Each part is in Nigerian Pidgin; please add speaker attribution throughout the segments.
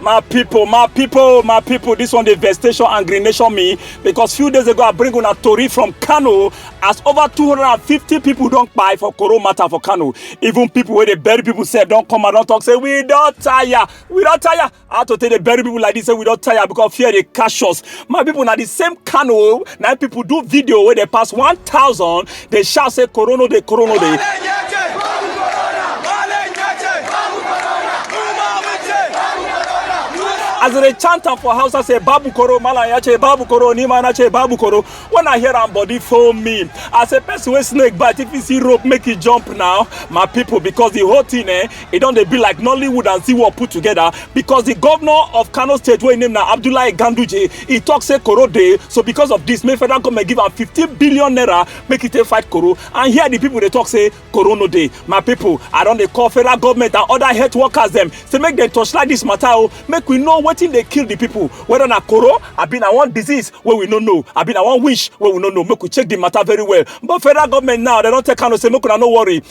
Speaker 1: My people, my people, my people, this one the vegetation and green nation me because few days ago I bring on a tori from Kano as over 250 people don't buy for Koro matter for Kano. Even people where they bury people say don't come and don't talk, say we don't tire, we don't tire. I have to tell the bury people like this, say we don't tire because fear they cash us. My people, now the same Kano, now people do video where they pass 1,000 dey shout say corona dey corona dey as they chant am for house, I say Babu Koro, Malaya che Babu Koro, Nimana che Babu Koro. When I hear am body for me, I say person wey snake bite if you see rope make it jump now, my people because the whole thing eh e don dey be like nollywood and zee world put together because di govnor of kano state wey im name na abdullahi ganduje e tok say koro dey so because of dis make federal goment give am fifteen billion naira make e take fight koro and here di pipo dey tok say koro no dey my pipo i don dey call federal goment and oda health workers dem say make dem torchlight dis mata o make we know wetin dey kill di pipo weda na koro abi na one disease wey we no know abi na one wish wey we no know make we check di mata very well but federal goment now dem don tell kano say make una no worry.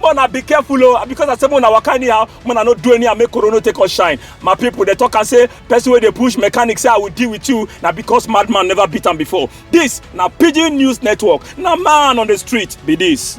Speaker 1: man i be careful o oh. because i say man na waka anyhow man i no do anyhow make corona take us shine my people dey talk am say person wey dey push mechanic say i will deal with you na because madman never beat am before this na pidgin news network na man on the street be this.